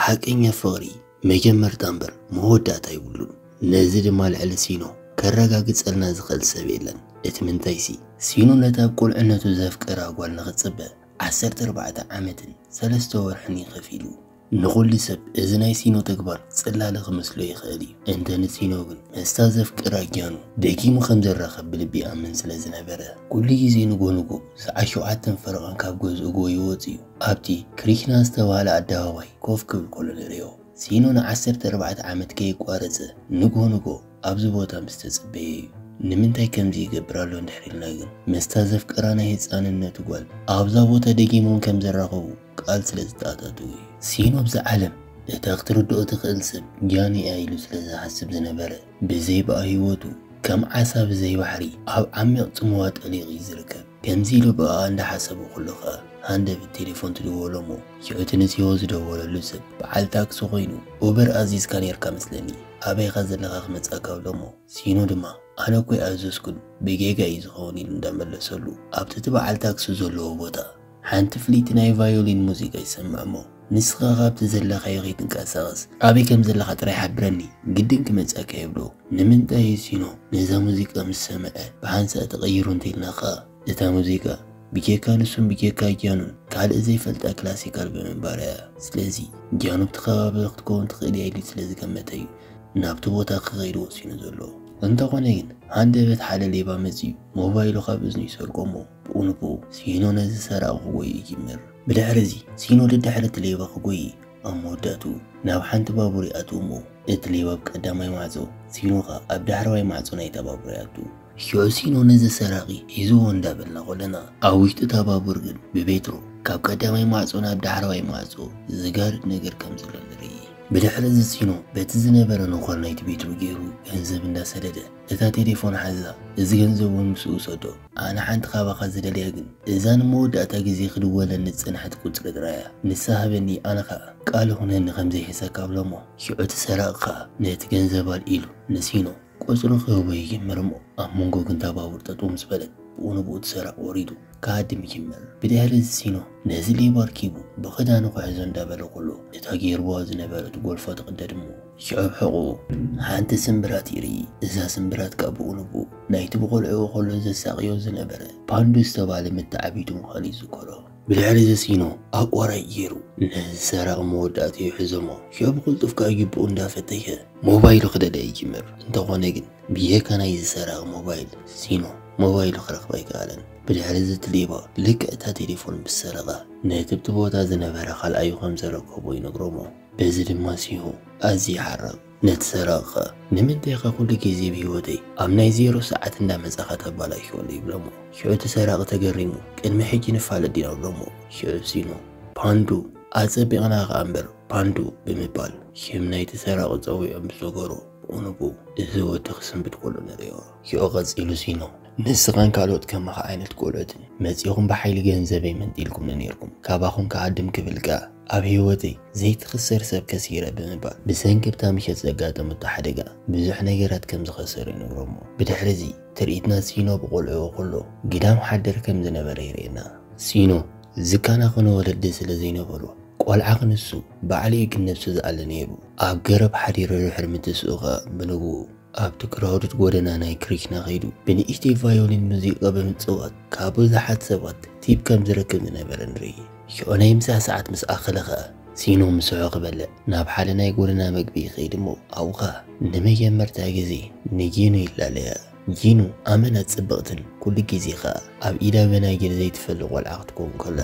ሓቀኛ ፍቕሪ መጀመርታ እምበር መወዳእታ የብሉን። ነዚ ድማ ልዕሊ ሲኖ ከረጋግጸልና ዝኽእል ሰብ የለን። እቲ ምንታይሲ፣ ሲኖ ነታ ኣብ ቁልዕነቱ ዘፍቀራ ጓል ንኽጽበ ዓሰርተ ኣርባዕተ ዓመትን ሰለስተ ወርሕን እዩ ከፊሉ። ንኹሉ ሰብ እዚ ናይ ሲኖ ተግባር ጽላለ ክመስሎ ይኽእል እዩ። እንተ ንሲኖ ግን ምስታ ዘፍቅራ ጊያኑ ደጊሙ ከም ዝራኸብ ብልቢ ይኣምን ስለ ዝነበረ፣ ኩሉ ግዜ ንጎ ንጎ ሰዓት ሸውዓተን ፈረቓን ካብ ገዝኡ ጎዩ ወጺኡ ኣብቲ ክሪሽና ዝተባህለ ኣደባባይ ኮፍ ክብል ከሎ ንርእዮ። ሲኖ ንዓሰርተ ኣርባዕተ ዓመት ከየቋረጸ ንግሆ ንግሆ ኣብዚ ቦታ ምስ ተጸበየ'ዩ። ንምንታይ ከምዚ ይገብር ኣሎ እንድሕር ኢልና ግን፣ ምስታ ዘፍቀራ ናይ ህጻንነቱ ጓል ኣብዛ ቦታ ደጊሞም ከም ዝራኸቡ ቃል ስለ ዝተኣታተወ'ዩ። ሲኖ ኣብዛ ዓለም እታ ክትርድኦ ትኽእል ሰብ ጃን'ያ ኢሉ ስለ ዝሓስብ ዝነበረ፣ ብዘይባኣ ህይወቱ ከም ዓሳ ብዘይ ባሕሪ ኣብ ዓሚቕ ጽምዋ ጠሊቑ'ዩ ዝርከብ። ከምዚ ኢሉ ብኣኣ እንዳሓሰቡ ኩሉ ከኣ ሃንደብት ቴሌፎን ትድወሎ እሞ ሽዑ እቲ ንጽዮ ዝደወለሉ ሰብ ብዓል ታክሲ ኮይኑ ኡበር ኣዚዝካ ኔርካ መስለኒ ኣበይ ኢካ ዘለካ ክመጻካ እብሎ እሞ ሲኑ ድማ ኣነ እኮ ኣይኣዘዝኩን ብጌጋ እዩ ዝከውን ኢሉ እንዳመለሰሉ ኣብቲ እቲ ብዓል ታክሲ ዘለዎ ቦታ ሓንቲ ፍልይቲ ናይ ቫዮሊን ሙዚቃ ይሰምዕ እሞ ንስኻ ካብቲ ዘለኻዮ ከይትንቀሳቐስ ኣበይ ከም ዘለኻ ጥራይ ሓብረኒ ግድን ክመጸካ ይብሎ። ንምንታይ እዩ ሲኖ ነዛ ሙዚቃ ምስ ሰምዐ ብሓንሳእ ተቐይሩ እንተይልናካ እታ ሙዚቃ ብጀካ ንሱን ብጀካ ጃኑን ካልእ ዘይፈልጣ ክላሲካል ብምንባራ እያ። ስለዚ ጃኑ ኣብቲ ከባቢ ክትከውን ትኽእል እያ ኢሉ ስለ ዝገመተ እዩ ናብቲ ቦታ ክኸይድ ወሲኑ ዘሎ። እንተኾነ ግን ሃንደበት ሓደ ሌባ መጺኡ ሞባይሉ ካብ እዝኑ ይሰርቆ እሞ ብኡ ንብኡ ሲኖ ነዚ ሰራቒ ክጎዪ ይጅምር። ብድሕሪ'ዚ ሲኖ ደድሕሪ እቲ ሌባ ክጎዪ ኣብ መወዳእትኡ ናብ ሓንቲ ባቡር ይኣትው እሞ እቲ ሌባ ኣብ ቀዳማይ ማዕጾ ሲኖ ከኣ ኣብ ዳሕረዋይ ማዕጾ ናይታ ባቡር ይኣቱ። ሽዑ ሲኖ ነዚ ሰራቒ ሒዝዎ እንዳበልና ከሎና ኣብ ውሽጢ እታ ባቡር ግን ብቤትሮ ካብ ቀዳማይ ማዕጾ ናብ ዳሕረዋይ ማዕጾ ዝጋርድ ነገር ከም ዘሎ ንርኢ። ብድሕሪ'ዚ ሲኖ በቲ ዝነበረ ነዃል ናይቲ ቤትሮ ጌሩ ገንዘብ እንዳሰደደ እታ ቴሌፎን ሓዛ እዚ ገንዘብ ውን ምስኡ ውሰዶ ኣነ ሓንቲ ካባኻ ዝደልያ ግን እዛ ንመወዳእታ ግዜ ክድወለኒ ዝጸንሐት ቁጽሪ ጥራይ እያ። ንሳ ሃበኒ ኣነ ከኣ ቃል እኹነኒ ከም ዘይሕሰካ እብሎ'ሞ ሽዑ እቲ ሰራቒ ከኣ ነቲ ገንዘብ ኣልዒሉ ንሲኖ ቁጽሪ ክህቦ ይጅምር'ሞ ኣብ መንጎ ግን እታ ባቡር ጠጠው ምስ በለት ብኡ ንብኡ እቲ ሰራቒ ወሪዱ ክሃድም ይጅምር። ብድሕሪ እዚ ሲኖ ነዚ ሌባ ኣርኪቡ ብኽዳኑ ክሕዞ እንዳበለ ከሎ እታ ጌርዋ ዝነበረት ጎልፎ ትቕደድ'ሞ፣ ሽዑ ሕቑኡ ሓንቲ ስምብራት ይርኢ። እዛ ስምብራት ከኣ ብቑልቡ ናይቲ ብቖልዕኡ ከሎ ዘሳቕዮ ዝነበረ ፓንዱ ዝተባህለ መተዓብይቱ ምዃኑ ይዝከሮ። ብልዕሊ ዘስኢኖ ኣቋራጭ ገይሩ ነዚ ሰራቒ መወዳእትኡ ይሕዞ'ሞ ሽዑ ብቕልጡፍ ከኣ ጁቡኡ እንዳፈተሸ ሞባይሉ ክደለ ይጅምር። እንተኾነ ግን ብጀካ ናይዚ ሰራቒ ሞባይል ስኢኑ ሞባይሉ ክረኽብ ኣይከኣለን። ብልዕሊ ዝቲ ሌባ ልክዕ እታ ቴሌፎን ምስ ሰረቓ ነቲ ብቲ ቦታ ዝነበረ ካልኣዩ ከም ዘረከቦ ይነግሮ'ሞ፣ በዚ ድማ ሲሁ ኣዝዩ ሓረቕ ነቲ ሰራቒኸ ንምንታይ ኢኻ ኩሉ ግዜ ብ ሂወተይ ኣብ ናይ ዜሮ ሰዓት እንዳ መጻኻ ተባላሽወሉ ይብሎሞ ሽዑ እቲ ሰራቒ ተገሪሙ ቅድሚ ሕጂ ንፋለጥ ዲና ብሎሞ ሽዑ ሲኑ ፓንዱ ኣጸቢቕና ከኣ እምበር ፓንዱ ብምባል ሽም ናይቲ ሰራቒ ጸዊዑ ምስ ሰገሮ ኡንቡ እዚ ወዲ ክስንብድ ከሎ ንርእዮ ሽዑ ቀጺሉ ሲኑ ንስኻን ካልኦት ከማኻ ዓይነት ቆልዑትን መጺኹም ብሓይሊ ገንዘበይ መንጢልኩምኒ ኔርኩም ካባኹም ክሃድም ክብል ከኣ ኣብ ህይወተይ ዘይትኽሰር ሰብ ከሲረ ብምባል ብሰንኪ ኣብታ ምሸት ዘጋጠመቶ ሓደጋ ብዙሕ ነገራት ከም ዝኸሰረ ይነግሮ'ሞ ብድሕሪ'ዚ ትርኢትና ሲኖ ብቖልዕኡ ኩሉ ግዳም ሓደር ከም ዝነበረ የርእየና። ሲኖ ዝከናኸኖ ወለዲ ስለ ዘይነበሮ ቆልዓ ክንሱ ባዕሉ'ዩ ክንነብሶ ዝኣሊ ነይሩ። ኣብ ገረብ ሓዲሩ ድሕሪ ምትስኡ ከኣ ብንግኡ ኣብቲ ክራውድድ ጎደና ናይ ክሪችና ከይዱ ብንእሽተይ ቫዮሊን ሙዚቃ ብምጽዋት ካብ ብዙሓት ሰባት ቲፕ ከም ዝረክብ ዝነበረ ንርኢ። ሽዑ ናይ ምሳ ሰዓት ምስ ኣኸለ ኸኣ ሲኖ ምስሑ ክበልዕ ናብ ሓደ ናይ ጎደና መግቢ ይኸይድ እሞ ኣብኡ ኸኣ ንመጀመርታ ግዜ ንጂኑ ይላለያ። ጂኑ ኣመና ጽብቕትን ኩሉ ግዜ ኸኣ ኣብ ኢዳ በናጅር ዘይትፈሊ ቆልዓ ክትከውን ከላ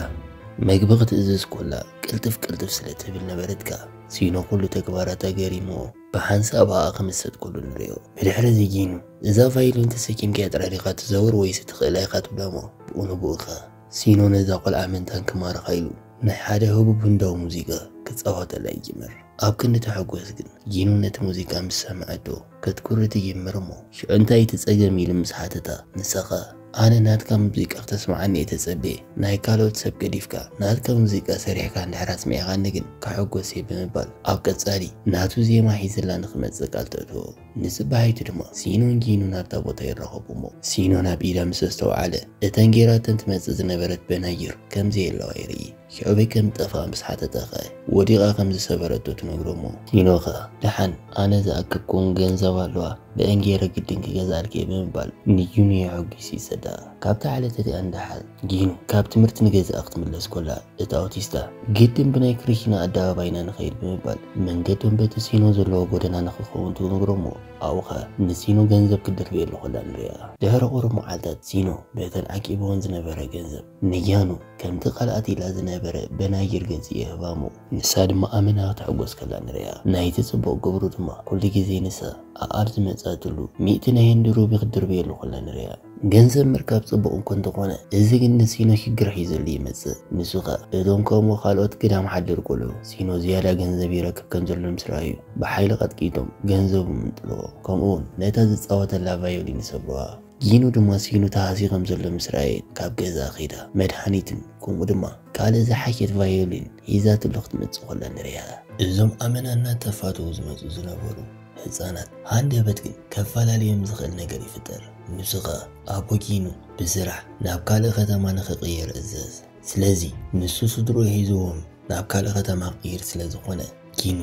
መግቢ ክትእዝዝ ኮላ ቅልጥፍ ቅልጥፍ ስለ ትብል ነበረት ከኣ ሲኖ ኩሉ ተግባራታ ገሪምዎ። ብሓንሳብ ኸኣ ከም ዝሰጥ ኩሉ ንርእዮ። ብድሕርዚ ጊኑ፣ እዛ ቫዮሊን ተሰኪምካያ ጥራይ ዲኻ ትዘውር ወይስ እትኽእላ ኢኻ ትብሎ'ሞ፣ ብኡ ንብኡ ከኣ፣ ሲኖ ነዛ ቆልዓ ምእንታን ክማርኻ ኢሉ፣ ናይ ሓደ ህቡብ ህንዳዊ ሙዚቃ ክጻወተላ ይጅምር። ኣብ ክንዲ ተሕጎስ ግን፣ ጊኑ ነቲ ሙዚቃ ምስ ሰምዐቶ፣ ከትኩሪ ትጅምር'ሞ፣ ሽዑ እንታይ ኢዩ እቲ ጸገም ኢሉ ምስ ሓተታ፣ ንሳ ከኣ፣ ኣነ ናትካ ሙዚቃ ክተስምዓኒ እየ ተጸብየ ናይ ካልኦት ሰብ ገዲፍካ ናትካ ሙዚቃ ሰሪሕካ እንድሕር ኣስሚዕካኒ ግን ክሕጎስ እየ ብምባል ኣብ ቀጻሊ ናቱ ዜማ ሒዝላ ንክመጽእ ቃል ተእትዎ ንጽባሒቱ ድማ ሲኖን ጊኑን ኣብታ ቦታ ይራኸቡ እሞ ሲኖ ናብ ኢዳ ምስ ኣስተውዓለ እተን ጌራተን ትመጽእ ዝነበረት በናይር ከምዘየለዋ ይርኢ ኣበይ ከም ዝጠፍኣ ምስ ሓተታ ከእ ወዲቓ ከም ዝሰበረቶ ትነግሮ እሞ። ቲኖ ከእ ደሓን ኣነ ዝኣከብክውን ገንዘብ ኣሎዋ ብእኤን ገይረ ግድን ክገዝኣልኪ እየ ብምባል ንጊኑ የሐጒሱ ይሰዳ። ካብታ ዕለት እቲኣ ንደሓር ጊኑ ካብ ትምህርቲ ንገዝኣ ክትምለስ ኮላ እቲ ኣውቲስታ ግድን ብናይ ክሪኪና ኣደባባይ ኢና ንኸይድ ብምባል መንገዶም በቲ ሲኖ ዘለዎ ጎደና ንክኸውን ትነግሮ እሞ ኣብኡ ከእ ንሲኖ ገንዘብ ክትድርብየሉ ኮላ ንርእያ። ድሕሪ ቁሩብ መዓልታት ሲኖ በተን ዓቂብወን ዝነበረ ገንዘብ። ንጃኑ ከምቲ ካልኣት ኢላ ዝነበረ በናጅር ገጽ የህባሞ ንሳ ድማ ኣመና ክትሕጎስ ከላ ንርእያ ናይቲ ጽቡቅ ግብሩ ድማ ኩሉ ግዜ ንሳ ኣኣብ ዝመጻትሉ ሚእቲ ናይ ህንዲ ሩቢ ክትድርብየሉ ከላ ንርእያ ገንዘብ ምርካብ ጽቡቅ እኮ እንተኮነ እዚ ግን ንሲኖ ሽግር ሒዙሉ ይመጽእ ንሱ ከኣ እቶም ከምኡ ካልኦት ግዳም ሓደር ቆልዑ ሲኖ ዝያዳ ገንዘብ ይረክብ ከምዘሎ ምስ ረኣዩ ብሓይሊ ቀጥቂጦም ገንዘቡ ምንጥልዎ ከምኡውን ነታ ዝጻወተላ ቫዮሊን ይሰብሩዋ ጊኑ ድማ ሲኢኑ ተሃስዩ ከም ዘሎ ምስ ረኣየት ካብ ገዛ ከይዳ መድሃኒትን ከምኡ ድማ ካልእ ዝሓሸት ቫዮሊን ሒዛትሉ ክትመጽእ ከላ ንርእያ። እዞም ኣመና እናተፋተዉ ዝመጹ ዝነበሩ ህጻናት ሃንደበት ግን ከፈላልዮም ዝኽእል ነገር ይፍጠር። ንሱ ከኣ ኣቦ ጊኑ ብስራሕ ናብ ካልእ ከተማ ንኽቅየር እዘዝ። ስለዚ ንሱ ስድርኡ ሒዝዎም ናብ ካልእ ከተማ ክቅይር ስለ ዝኾነ፣ ኪኑ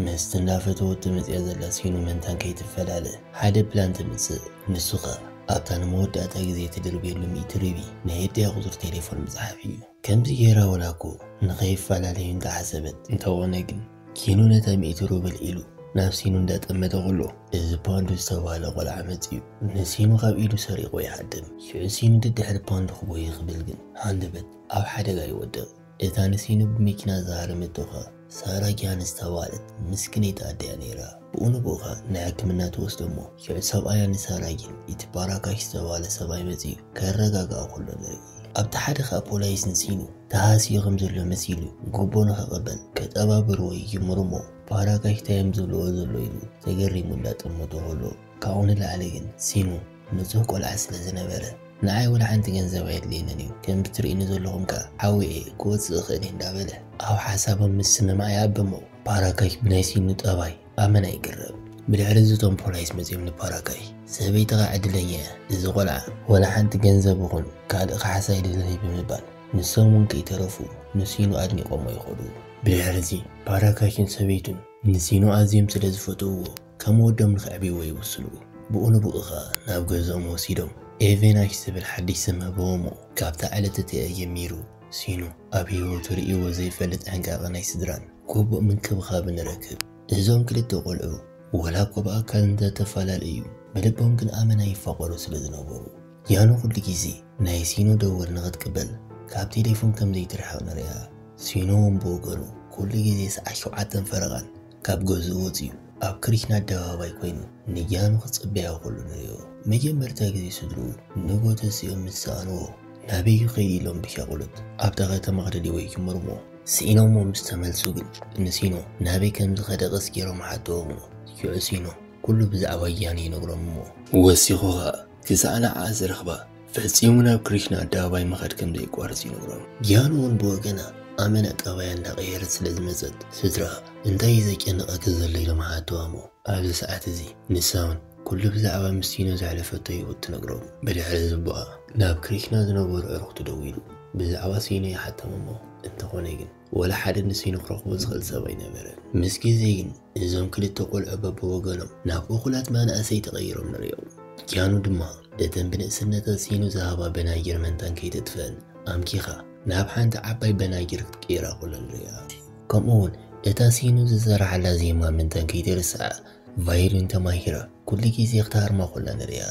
ምስቲ እንዳፈተወት ትመጽኣ ዘላ ሲኑ መንታን ከይትፈላለ ሓደ ፕላን ተምጽእ ንሱ ከኣ ኣብታ ንመወዳእታ ግዜ ትድርብየሉ ሚእቲ ሪቢ ናይ ኤርትያ ቁጽሪ ቴሌፎን ምጽሓፍ እዩ ከምዚ ጌራ ወላ እኮ ንከይፈላለዩ እንተ ሓሰበት እንተኮነ ግን ኪኑ ነታ ሚእቲ ሩብል ኢሉ ናብ ሲኑ እንዳጠመተ ከሎ እዚ ፓንዱ ዝተባህለ ቆልዓ መጽዩ ንሲኑ ካብ ኢዱ ሰሪቁ ይሃድም ሽዑ ሲኑ ድድሕሪ ፓንዱ ክጎይ ክብል ግን ሃንደበት ኣብ ሓደጋ ይወድቅ እታ ንሲኑ ብመኪና ዝሃረመቶ ከኣ ሳራ ጊሃን ዝተባህለት ምስክነይቲ ኣደ'ያ ነይራ። ብኡ ንብኡ ከኣ ንሕክምና ትወስዶ'ሞ፣ ሽዑ ሰብኣያ ንሳራ ጊን እቲ ባራካሽ ዝተባህለ ሰብኣይ መጺኡ ከረጋግኣ ከሎ ንርኢ። ኣብቲ ሓደ ከኣ ፖላይስ ንሲኑ ተሃስዩ ከም ዘሎ መሲሉ ጉቦ ንኽቕበል ከጠባብርዎ ይጅምሩ'ሞ፣ ባራካሽ ታይ'ዮም ዝብልዎ ዘለዉ ኢሉ ተገሪሙ እንዳጠመቶ ከሎ፣ ካብኡ ንላዕሊ ግን ሲኑ ንጹህ ቆልዓ ስለ ዝነበረ ንዓይ ወላ ሓንቲ ገንዘብ ኣየድልየንን እዩ፣ ከምቲ ትርእዩኒ ዘለኹም ከኣ ሓዊ እየ፣ ክወጽእ እኽእል እየ እንዳበለ ኣብ ሓሳቦም ምስምማዕ ይኣበሞ። ፓራካይ ብናይ ሲኑ ጠባይ ኣመና ይግረም። ብድሕሪ እዚ እቶም ፖላይስ መጺኦም ንፓራካይ ሰበይትኻ ዕድለኛ እያ፣ እዚ ቆልዓ ወላ ሓንቲ ገንዘብ ይኹን ካልእ ካሕሳ ኣይደልን'ዩ ብምባል ንሶም እውን ከይተረፉ ንሲኑ ኣድኒቖሞ ይኸዱ። ብድሕሪ እዚ ፓራካይን ሰበይቱን ንሲኑ ኣዝዮም ስለ ዝፈትውዎ፣ ከም ወዶም ንኸዕብይዎ ይውስኑ። ብኡ ንብኡ ኸኣ ናብ ገዝኦም ወሲዶም ኤቬናሽ ዝብል ሓድሽ ስም ህብዎሞ። ካብታ ዕለት እቲኣ ጀሚሩ ሲኖ ኣብ ህይወቱ ርእይዎ ዘይፈልጥ ሕንቃቐ ናይ ስድራን ግቡእ ምንክብኻብን ይረክብ። እዞም ክልተ ቆልዑ ወላ'ኳ ብኣካል እንተ ተፈላለዩ ብልቦም ግን ኣመና ይፋቐሩ ስለ ዝነበሩ ያኖ ኩሉ ግዜ ናይ ሲኖ ደወል ንኽትቅበል ካብ ቴሌፎን ከም ዘይትርሕቕ ንርእያ። ሲኖ'ውን ብወገኑ ኩሉ ግዜ ሰዓት ሸውዓተን ፈረቓን ካብ ገዝኡ ወጺኡ ኣብ ክሪችና ኣደባባይ ኮይኑ ንጃኑ ክጽበያ ከሎ ንሪኦ። መጀመርታ ግዜ ስድርኡ ንግሆ ተሲኦም ምስ ሰኣንዎ ናበይ እዩ ከይዱ ኢሎም ብሻቕሎት ኣብታ ከተማ ክደልይዎ ይጅምሩ'ሞ ስኢኖምዎ ምስ ተመልሱ ግን ንሲኖ ናበይ ከም ዝኸደ ቀስ ገይሮም ይሓትዎም'ሞ ሽዑ ሲኖ ኩሉ ብዛዕባ ጃኑ ይነግሮም'ሞ ወሲኹ ከኣ ክሳዕ ንዓኣ ዝረኽባ ፈጺሙ ናብ ግሪክ ንኣደባባይ ምኻድ ከም ዘየቋርጽ ይነግሮም። ጊያን እውን ብወገና ኣመና ጠባያ እንዳቐየረት ስለ ዝመጸት ስድራኣ እንታይ እዩ ዘጨንቐኪ ዘሎ ኢሎም ሓተዋሞ ኣብዚ ሰዓት እዚ ንሳ እውን ኩሉ ብዛዕባ ምስ ቲኖ ዘሕለፈቶ ህይወት ትነግሮም። ብድሕሪ ዝቦኣ ናብ ክሪክና ዝነበሩ ኣዕሩኽቱ ደዊሉ ብዛዕባ ሲኖ ይሓተምሞ እንተኾነ ግን። ወላ ሓደ ንስይኑ ክረኽቦ ዝኽእል ሰብ ኣይነበረን። ምስ ግዜ ግን እዞም ክልተ ቆልዑ በብወገኖም ናብ እኹላት መናእሰይ ተቐይሮም ንርእዮም። ጃኑ ድማ በተን ብንእስነታ ስይኑ ዝሃባ በናጊር መንታን ከይተጥፍአን ኣምኪኻ ናብ ሓንቲ ዓባይ በናጊር ክትቅይራ ከሎ ንርእያ። ከምኡ ውን እታ ስይኑ ዝሰረሓላ ዜማ መንታን ከይተርስዐ ቫዮሊን ተማሂራ ኩሉ ግዜ ክትሃርማ ከላ ንርእያ።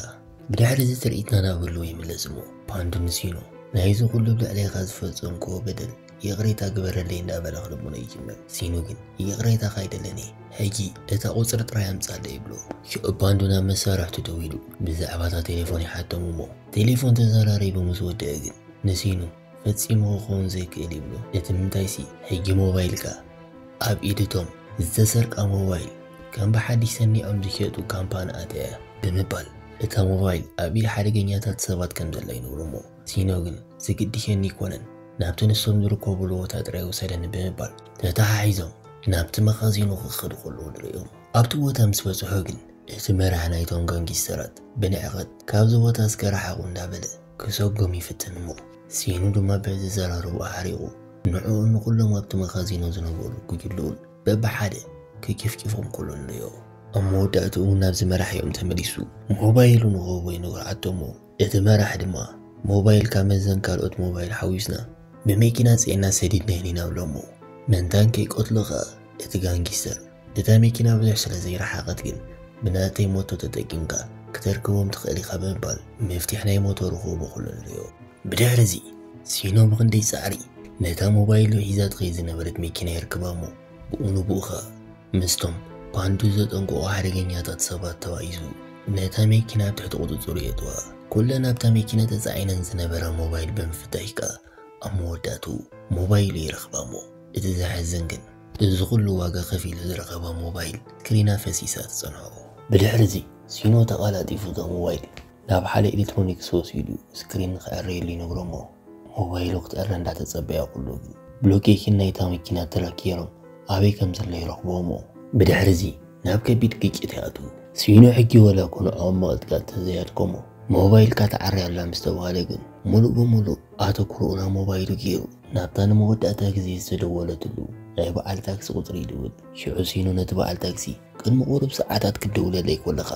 ብድሕሪ እዚ ትርኢትና ናብ ህልው ይምለስ እሞ ፓንዱ ንስይኑ ናይዚ ኩሉ ኣብ ልዕሌኻ ዝፈጸምክዎ በደል ይቕሬታ ግበረለይ እናበለ ክልምኖ ይጅምር። ሲኑ ግን ይቕሬታኻ ኣይደልን እየ ሕጂ እታ ቁጽሪ ጥራይ ኣምጻለይ ይብሎ። ክእባንዱ ናብ መሳርሕቱ ደው ኢሉ ብዛዕባ እታ ቴሌፎን ይሓቶም እሞ ቴሌፎን ተዘራሪቡ ምስ ወደአ ግን ንሲኑ ፈጺሙ ክኸውን ዘይክእል ይብሎ። እቲ ምንታይሲ ሕጂ ሞባይልካ ኣብ ኢድ እቶም ዝተሰርቃ ሞባይል ከም ብሓድሽ ሰኒዖም ዝሸጡ ካምፓኒ ኣትያ እያ ብምባል እታ ሞባይል ኣብ ኢድ ሓደገኛታት ሰባት ከም ዘላ ይነግሮ እሞ ሲኖ ግን ዝግድሸኒ ኣይኮነን ናብቲ ንሶም ዝርከቡሉ ቦታ ጥራይ ውሰደኒ ብምባል ተተሓሒዞም ናብቲ መኻዚኖ ክኸዱ ከለዉ ንርእዮም። ኣብቲ ቦታ ምስ በጽሑ ግን እቲ መራሒ ናይቶም ጋንጊስተራት ብንዕቀት ካብዚ ቦታ እስከ ርሓቑ እንዳበለ ክሰጎም ይፍትን እሞ ሲኖ ድማ ብኣዘዘራርብኡ ሓሪቑ ንዕኡን ንኹሎም ኣብቲ መኻዚኖ ዝነበሩ ጉጅልኡን በብሓደ ክጭፍጭፎም ከሎ ንርእዮ። ኣብ መወዳእትኡ ናብዚ መራሒኦም ተመሊሱ ሞባይሉ ንክህቦ ይነግሮ ዓደሞ። እቲ መራሒ ድማ ሞባይልካ መዘን ካልኦት ሞባይል ሓዊስና ብመኪና ፅዒና ሰዲድናየን ኢና ብሎሞ ምእንታን ከይቀትሎ ከኣ እቲ ጋንጊስተር እታ መኪና ብዙሕ ስለ ዘይረሓቐት ግን ብናተይ ሞቶ ተጠቂምካ ክተርክቦም ትኽእል ኢኻ ብምባል መፍቲሕ ናይ ሞቶ ርኹቡ ኩሉ ንሪኦ። ብድሕሪ እዚ ሲኖ ብኽንደይ ፃዕሪ ነታ ሞባይሉ ሒዛ ትኸይድ ዝነበረት መኪና የርክባሞ ብኡ ንብኡ ከኣ ምስቶም ባንዱ ዘጠንቀቑ ሓደገኛታት ሰባት ተባኢሱ ነታ መኪና ኣብ ትሕቲ ቁጽጽሩ የእትዋ። ኩለን ኣብታ መኪና ተጻዒነን ዝነበራ ሞባይል ብምፍታሽ ከኣ ኣብ መወዳእትኡ ሞባይሉ ይረኽባ'ሞ እቲ ዘሕዝን ግን እዚ ኩሉ ዋጋ ከፊሉ ዝረኸባ ሞባይል ክሪና ፈሲሳ ትጸንሖ። ብድሕሪ'ዚ ሲኖ ተቐላጢፉ እታ ሞባይል ናብ ሓደ ኤሌክትሮኒክስ ወሲዱ ስክሪን ንኽዕረየሉ ይነግሮ'ሞ ሞባይሉ ክትእረ እንዳተጸበያ ኩሉ ብሎኬሽን ናይታ መኪና ትራክ ጌሮም ኣበይ ከም ዘሎ ይረኽብዎም'ሞ ብድሕሪ'ዚ ናብ ከቢድ ግጭት ይኣትዉ። ሲኖ ሕጊ ዋላ'ኮ ንዖኦም ምቕጥቃጥ ተዘይኣድከሞ ሞባይልካ ትዓሪ ኣላ ምስ ተባህለ ግን ሙሉእ ብሙሉእ ኣተኩሮኡ ናብ ሞባይሉ ጌሩ ናብታ ንመወዳእታ ግዜ ዝተደወለትሉ ናይ በዓል ታክሲ ቁጽሪ ይድውል። ሽዑ ሲኖ ነቲ በዓል ታክሲ ቅድሚ ቁሩብ ሰዓታት ክትድውለለይ ኮለኻ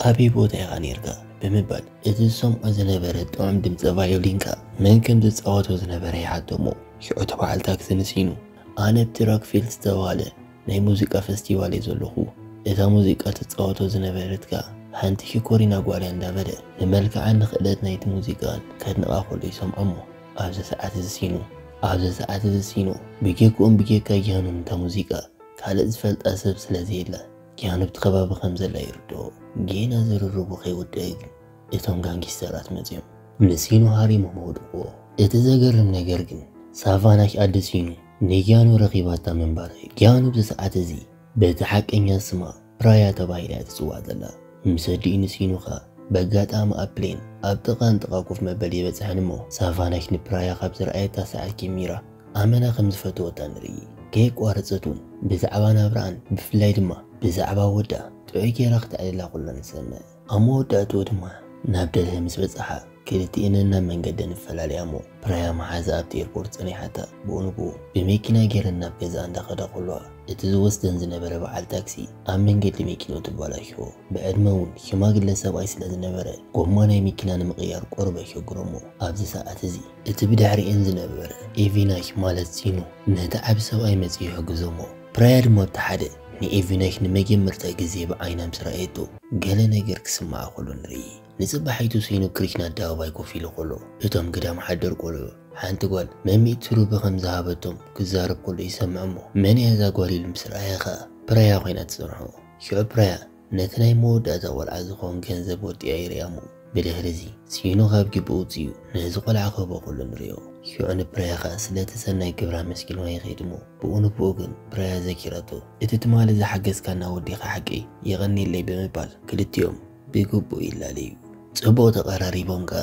ኣበይ ቦታ ኢኻ ኔርካ ብምባል እቲ ዝሰምዖ ዝነበረ ጥዑም ድምጺ ቫዮሊን ከኣ መን ከም ዝጻወቶ ዝነበረ ይሓተ'ሞ፣ ሽዑ እቲ በዓል ታክሲ ንሲኑ፣ ኣነ ኣብቲ ሮክፊልድ ዝተባህለ ናይ ሙዚቃ ፈስቲቫል'የ ዘለኹ፣ እታ ሙዚቃ ትጻወቶ ዝነበረት ከኣ ሓንቲ ሽኮሪና ጓል'ያ እንዳበለ ንመልክዓን ንክእለት ናይቲ ሙዚቃን ከድንቓ ከሎ ይሰምዖ'ሞ፣ ኣብዚ ሰዓት'ዚ ሲኑ። ኣብዚ ሰዓት'ዚ ሲኑ። ብጀክኡን ብጀካ ጃኑን እታ ሙዚቃ ካልእ ዝፈልጣ ሰብ ስለዘየለ። ኪያን ኣብቲ ከባቢ ከም ዘላ ይርድኦ። ጌና ዝርርቡ ከይወድኣ እዩ ግን እቶም ጋንጊስተራት መጺኦም ንሲኑ ሃሪሞም ኣውድቕዎ። እቲ ዘገርም ነገር ግን ሳቫናሽ ኣደ ሲኑ ንጊያኑ ረኺባታ ምንባራ እዩ። ጊያኑ ኣብዚ ሰዓት እዚ በቲ ሓቀኛ ስማ ፕራያ ተባሂላ እያ ትጽዋዕ ዘላ። ምስ ኣዲኡ ንሲኑ ከኣ በጋጣሚ ኣብ ፕሌን ኣብ ጥቓ ንጥቓ ኮፍ መበሊ በጽሐን እሞ ሳቫናሽ ንፕራያ ካብ ዝረኣየታ ሰዓት ጀሚራ ኣመና ከም ዝፈተወታ ንርኢ። ከየቋረጸት ውን ብዛዕባ ናብራኣን ብፍላይ ድማ ብዛዕባ ወዳ ጥዑይ ጌራ ክተዕልላ ከሎ ንሰምዕ። ኣብ መወዳእትኡ ድማ ናብ ደልሀ ምስ በጻሓ ክልቲኤን ነናብ መንገደን ይፈላለያ'ሞ ፕራያም ሓዛ ኣብቲ ኤርፖርት ጸኒሓታ ብኡ ንብኡ ብመኪና ጌረን ናብ ገዝኣ እንዳኸዳ ከለዋ እቲ ዝወስደን ዝነበረ በዓል ታክሲ ኣብ መንገዲ መኪንኡ ተባላሽዎ ብዕድመ ውን ሽማግለ ሰብኣይ ስለዝነበረ ጎማ ናይ መኪና ንምቕያር ቁሩብ ኣሸግሮ'ሞ ኣብዚ ሰዓት እዚ እቲ ብድሕሪኤን ዝነበረ ኤቪናይክ ማለት ሲኑ ነቲ ዓቢ ሰብኣይ መጺኡ ይሕግዞሞ። ፕራያ ድማ ኣብቲ ሓደ ንኤቪናይክ ንመጀመርታ ግዜ ብዓይና ምስ ረኣየቶ ገለ ነገር ክስምዓ ከሎ ንርኢ። ንጽባሒቱ ሲኑ ክሪሽና ኣደባባይ ኮፍ ኢሉ ከሎ እቶም ግዳም ሓደር ቆልዑ ሓንቲ ጓል መሚእቲ ሩቢ ከም ዝሃበቶም ክዛረብ ከሎ ይሰምዕሞ። መን'ያ እዛ ጓል ኢሉ ምስ ረኣየ ከኣ ፕራያ ኮይና ትጸንሖ። ሽዑ ፕራያ ነቲ ናይ መወዳእታ ቆልዓ ዝኸውን ገንዘብ ወጢኣ ይርያሞ። ብድሕሪዚ፣ ሲኖ ካብ ጊብኡ ውጺኡ ነዚ ቆልዓ ክህቦ ከሎ ንርእዮ። ሺዑ ንፕራያ ከኣ ስለቲ ሰናይ ግብራ ኣመስጊንዋ ይኸይድሞ፣ ብኡ ንብኡ ግን ፕራያ ዘኪራቶ እቲ ትማሊ ዝሓገዝካና ወዲኻ ሓቀይ የቐንየለይ ብምባል ክልቲኦም ብግቡእ ይላለዩ። ጽቡቕ ተቐራሪቦም ከኣ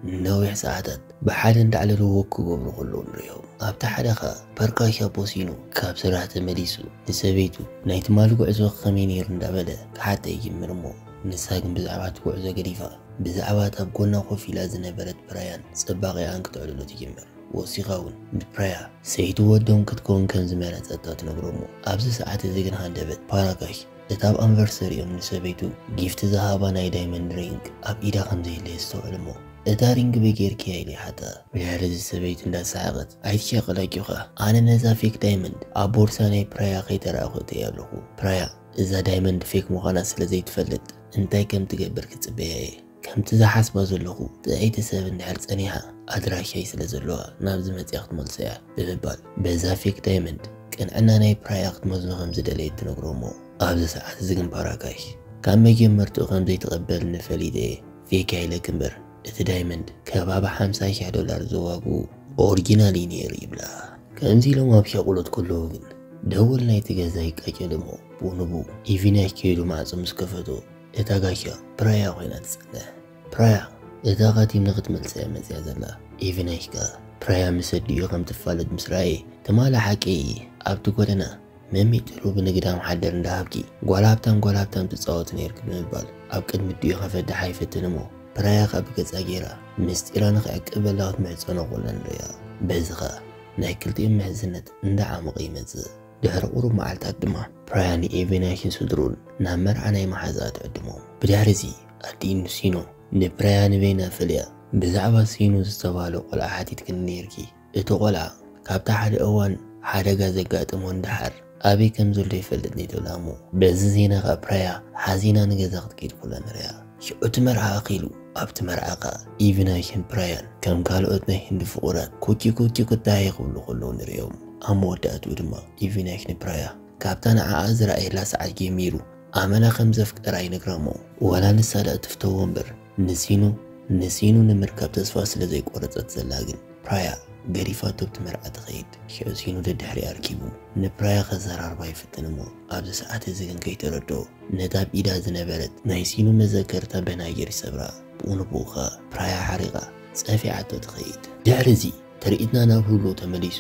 ንነዊሕ ሰዓታት ብሓደ እንዳዕለልዎ ክገብሩ ከለዉ ንርእዮም። ኣብቲ ሓደ ከኣ ፐርካሻ ቦሲኑ ካብ ስራሕ ተመሊሱ ንሰበይቱ ናይ ትማሊ ጉዕዞ ከመይ ነይሩ እንዳበለ ክሓታ ይጅምር እሞ ንሳ ግን ብዛዕባ እቲ ጉዕዞ ገዲፋ ብዛዕባ እታ ኣብ ጎና ኮፍ ኢላ ዝነበረት ፕራያን ጽባቄኣን ክተዕልሎ ትጅምር። ወሲኻ እውን ንፕራያ ሰይቲ ወዶም ክትከውን ከም ዝመረጸታ ትነግሮ እሞ ኣብዚ ሰዓት እዚ ግን ሃንደበት ፓራካሽ እቲ ኣብ ኣንቨርሰሪኦም ንሰበይቱ ጊፍት ዝሃባ ናይ ዳይመንድ ሪንግ ኣብ ኢዳ ከም ዘየለ የስተውዕል እሞ፣ እታ ሪንግ በይ ጌርክያ? ኢሉ ይሓታ። ብድሕሪ እዚ ሰበይቱ እንዳሰሓቐት፣ ኣይትሸቅል ኣጆኻ፣ ኣነ ነዛ ፌክ ዳይመንድ ኣብ ቦርሳ ናይ ፕራያ ከይተራእኹ እተይ ኣለኹ፣ ፕራያ እዛ ዳይመንድ ፌክ ምዃና ስለ ዘይትፈልጥ እንታይ ከም ትገብር ክጽበያ እየ። ከምቲ ዝሓስባ ዘለኹ ጥዕይቲ ሰብ እንድሕር ጸኒሓ ኣድራሻይ ስለ ዘለዋ ናብዚ መጺኣ ክትመልሶ እያ ብምባል በዛ ፌክ ዳይመንድ ቅንዕና ናይ ፕራያ ክትመዝኖ ከም ዝደለየት ትነግሮ እሞ ኣብዚ ሰዓት እዚ ግን ፓራካሽ ካብ መጀመርትኡ ከም ዘይትቕበልኒ ፈሊጠ እየ ፌክ እያ ኢለኪ እምበር እቲ ዳይመንድ ከባቢ ሓምሳ ሽሕ ዶላር ዝዋግኡ ኦርጂናል እዩ ነይሩ ይብላ። ከምዚ ኢሎም ኣብ ሻቑሎት ከለዉ ግን ደወል ናይቲ ገዛ ይቃጨል እሞ ብኡ ንብኡ ኢቪናሽ ከይዱ ማዕጾ ምስ ከፈቶ እታ ጋሻ ፕራያ ኮይና ትጸንሕ ፕራያ እታ ካቲም ንክትመልሳ እያ መጽያ ዘላ ኢቭናሽ ከኣ ፕራያ ምስ ኣዲኡ ከም ትፋለጥ ምስ ረኣየ ትማሊ ሓቂ ኣብቲ ጎደና መሚጥሩ ብንግድ ኣምሓደር እንዳ ሃብቲ ጓል ሃብታም ጓል ሃብታም ትጻወት ነይርኪ ብምባል ኣብ ቅድሚ ኣዲኡ ከፈድሓ ይፍትን እሞ ፕራያ ከኣ ብገጻ ገይራ ምስጢራ ንክዕቅበላ ክትምሕጸኖ ኮላ ንርእያ በዚ ከኣ ናይ ክልቲኦም ምሕዝነት እንዳዓመቐ ይመጽእ ድሕሪ ቁሩብ መዓልታት ድማ ፕራያ ንኤቬናሽን ስድርኡን ናብ መርዓ ናይ መሓዝኣ ትዕድሞም። ብድሕሪ እዚ ኣዲኡ ንሲኖ ንፕራያ ንቬና ፈልያ ብዛዕባ ሲኖ ዝተባህለ ቆልዓ ሓቲትክኒ ነይርኪ፣ እቲ ቆልዓ ካብቲ ሓደ እዋን ሓደጋ ዘጋጠሞ ንደሓር ኣበይ ከምዘሎ ይፈልጥኒ ትብላ እሞ በዚ ዜና ከኣ ፕራያ ሓዚና ንገዛ ክትከይድ ኩላ ንርእያ። ሽዑ እቲ መርዓ ኣኺሉ ኣብቲ መርዓ ከኣ ኢቪ ናይ ህንድ ብራያን ከም ካልኦት ናይ ህንዲ ፍቑራት ኩኪ ኩኪ ኩዳየ ክብሉ ከለዉ ንርእዮም። ኣብ መወዳእትኡ ድማ ኢቪ ናይ ህንዲ ብራያ ካብታ ንዓኣ ዝረኣየላ ሰዓት ጀሚሩ ኣመና ከም ዘፍቀራ ይነግራ'ሞ ዋላ ንሳ ደኣ ትፍተዎ እምበር ንሲኑ ንሲኑ ንምርካብ ተስፋ ስለ ዘይቆረጸት ዘላ ግን ብራያ ገዲፋቶ ኣብቲ መርዓ ትኸይድ። ሽዑ ሲኑ ደድሕሪኣ ኣርኪቡ ንብራያ ከዘራርባ ይፍትን'ሞ ኣብዚ ሰዓት እዚ ግን ከይተረድኦ ነታ ኣብ ኢዳ ዝነበረት ናይ ሲኑ መዘከርታ በናይር ይሰብራ፣ ብኡ ንብኡ ከኣ ፕራያ ሓሪቓ ጸፊዓቶ ትኸይድ። ድሕሪ እዚ ትርኢትና ናብ ህሉው ተመሊሱ፣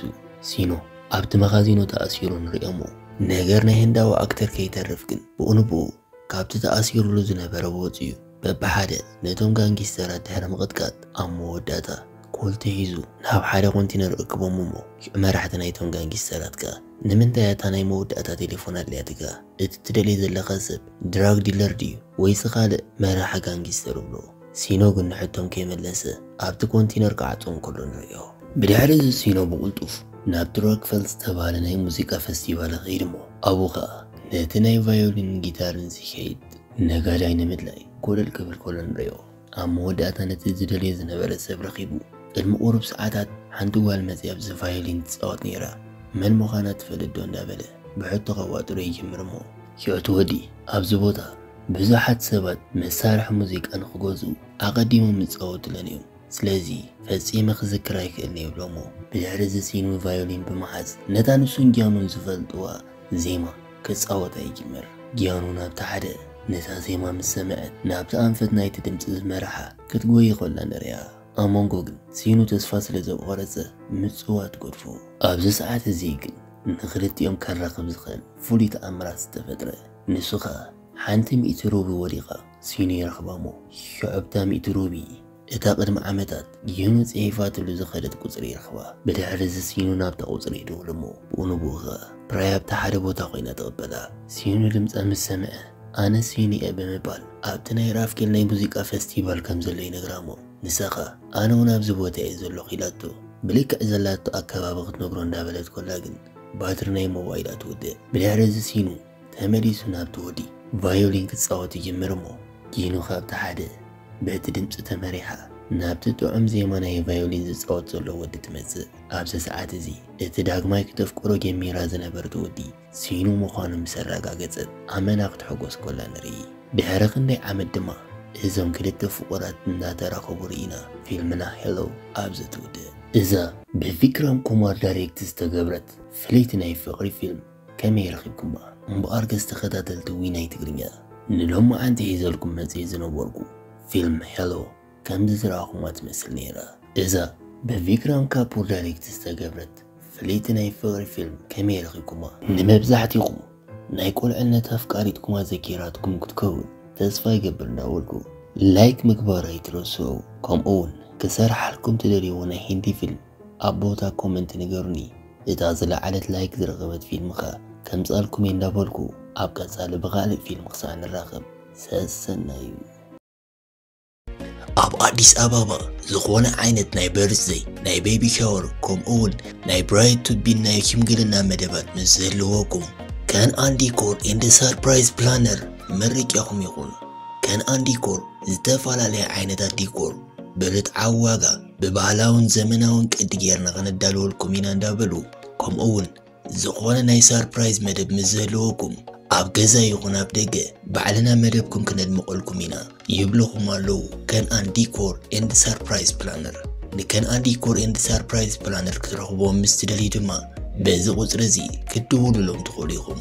ሲኑ ኣብቲ መኻዚኖ ተኣሲሩ ንርእዮ'ሞ ነገር ናይ ህንዳዊ ኣክተር ከይተርፍ ግን ብኡ ንብኡ ካብቲ ተኣሲሩሉ ዝነበረ ወጺኡ፣ በብሓደ ነቶም ጋንጊስተራት ድሕሪ ምቕጥቃጥ ኣብ መወዳእታ ኮልቲ ሒዙ ናብ ሓደ ኮንቲነር እክቦም እሞ መራሕቲ ናይቶም ጋንጊስተራት ከኣ ንምንታይ ኣታ ናይ መወዳእታ ቴሌፎን ኣድልያትካ እቲ ትደልዮ ዘለኻ ሰብ ድራግ ዲለር ድዩ ወይሲ ካልእ መራሒ ጋንጊስተር እብሎ ሲኖ ግን ንሕቶም ከይመለሰ ኣብቲ ኮንቲነር ክዓጹ እንከሎ ንርእዮ። ብድሕሪ እዚ ሲኖ ብቕልጡፍ ናብቲ ሮክፈል ዝተባህለ ናይ ሙዚቃ ፈስቲቫል ይኸይድ እሞ ኣብኡ ከኣ ነቲ ናይ ቫዮሊንን ጊታርን ዚከይድ ነጋዳይ ንምድላይ ኮለል ክብል ከሎ ንርእዮ። ኣብ መወዳእታ ነቲ ዝደልዮ ዝነበረ ሰብ ረኺቡ። ቅድሚ ቁሩብ ሰዓታት ሓንቲ ጓል መጺኣ ኣብዚ ቫዮሊን ትጻወት ነይራ። መን ምዃና ትፈልጥዶ እንዳበለ ብሕቶ ከዋጥሮ ይጅምር እሞ። ዮቲ ወዲ ኣብዚ ቦታ ብዙሓት ሰባት መሳርሒ ሙዚቃ ንኽገዝኡ ኣቐዲሞም ይጻወቱለን እዮም። ስለዚ ፈጺመ ክዝክር ኣይክእልን'የ ይብሎ'ሞ ብድሕሪ'ዚ ሲኑ ቫዮሊን ብምሓዝ ነታ ንሱን ጊያኖን ዝፈልጥዋ ዜማ ክጻወታ ይጅምር። ጊያኖ ናብቲ ሓደ ነታ ዜማ ምስ ሰምዐት ናብቲ ኣንፈት ናይቲ ድምጺ ዝመርሓ ክትጎዪ ከላ ንርእያ። ኣብ መንጎ ግን ሲኑ ተስፋ ስለ ዘቆረጸ ምጽዋት ገድፉ። ኣብዚ ሰዓት እዚ ግን ንኽልቲኦም ከራኽብ ዝኽእል ፍሉይ ተኣምራት ዝተፈጥረ። ንሱ ከኣ ሓንቲ ሚእቲ ሩብል ወዲቓ ሲኑ ይረኽባ'ሞ ሸዑብታ ሚእቲ ሩቢ፣ እታ ቅድሚ ዓመታት ዩኑ ጽሒፋትሉ ዝኸደት ቁጽሪ ይረኽባ። ብድሕሪ'ዚ ሲኑ ናብታ ቁጽሪ ይድውል'ሞ ብኡ ንብኡ ከኣ ፕራይ ኣብቲ ሓደ ቦታ ኮይና ትቕበላ። ሲኑ ድምጻ ምስ ሰምዐ፣ ኣነ ሲኑ'የ ብምባል ኣብቲ ናይ ራፍኬል ናይ ሙዚቃ ፈስቲቫል ከም ዘሎ ይነግራ'ሞ ንሳ ከኣ ኣነ'ውን ኣብዚ ቦታ'የ ዘለኹ ኢላቶ ብልክዕ ዘላቶ ኣከባቢ ክትነግሮ እንዳበለት ኮላ ግን ባትሪ ናይ ሞባይላ ትውድእ። ብድሕሪ'ዚ ሲኑ ተመሊሱ ናብቲ ወዲ ቫዮሊን ክጻወት ይጅምር እሞ ጊኑ ካብቲ ሓደ በቲ ድምጺ ተመሪሓ ናብቲ ጥዑም ዜማ ናይ ቫዮሊን ዝጻወት ዘሎ ወዲ ትመጽእ። ኣብዚ ሰዓት እዚ እቲ ዳግማይ ክተፍቅሮ ጀሚራ ዝነበርት ወዲ ሲኑ ምዃኑ ምስ ኣረጋገጸት ኣመና ክትሕጎስ ኮላ ንርኢ። ድሕሪ ክንደይ ዓመት ድማ እዞም ክልተ ፍቑራት እናተራኸቡ ርኢና ፊልምና Hello ኣብዚ ትውድእ። እዛ ብቪክራም ኩማር ዳይሬክት ዝተገብረት ፍልይቲ ናይ ፍቕሪ ፊልም ከመይ ረኺብኩማ እምበኣር ገጽ ተኸታተልቲ ዊናይ ትግርኛ። ንሎማዓንቲ ሒዘልኩም መጽየ ዝነበርኩ ፊልም ሄሎ ከምዚ ዝረኣኹማ ትመስል ነይራ። እዛ ብቪክራም ካፑር ዳሪክት ዝተገብረት ፍልይቲ ናይ ፍቕሪ ፊልም ከመይ ረኺብኩማ? ንመብዛሕቲኹም ናይ ቁልዕነት ኣፍቃሪትኩማ ዘኪራትኩም ክትከውን ተስፋ ይገብር እንዳበልኩ ላይክ ምግባር ኣይትረስዑ ከምኡውን ክሰርሓልኩም ትደልይዎ ናይ ሂንዲ ፊልም ኣብ ቦታ ኮመንት ንገሩኒ እታ ዝለዓለት ላይክ ዝረኸበት ፊልም ከ ከምጻልኩም እየ እንዳበልኩ ኣብ ቀጻሊ ብኻልእ ፊልም ክሳዕ ንራኸብ ሰሰናዩ። ኣብ ኣዲስ ኣባባ ዝኾነ ዓይነት ናይ በርዝደይ፣ ናይ ቤቢ ሻወር ከምኡ እውን ናይ ብራይድ ቱ ቢን ናይ ሽምግልና መደባት ምስ ዝህልወኩም ከንኣን ዲኮር ኤንድ ሰርፕራይዝ ፕላነር መርቂያኹም ይኹን። ከንኣን ዲኮር ዝተፈላለየ ዓይነታት ዲኮር ብርትዓዊ ዋጋ ብባህላውን ዘመናውን ቅዲ ጌርና ከነዳልወልኩም ኢና እንዳበሉ ከምኡ ውን ዝኾነ ናይ ሳርፕራይዝ መደብ ምስ ዝህልወኩም ኣብ ገዛ ይኹን ኣብ ደገ ባዕልና መደብኩም ክነድምቐልኩም ኢና ይብልኹም ኣለዉ ከንኣን ዲኮር ኤንድ ሳርፕራይዝ ፕላነር ንከንኣን ዲኮር ኤንድ ሳርፕራይዝ ፕላነር ክትረኽቦም ምስ ትደልዩ ድማ በዚ ቁፅሪ እዚ ክትድውሉሎም ትኽእሉ ኢኹም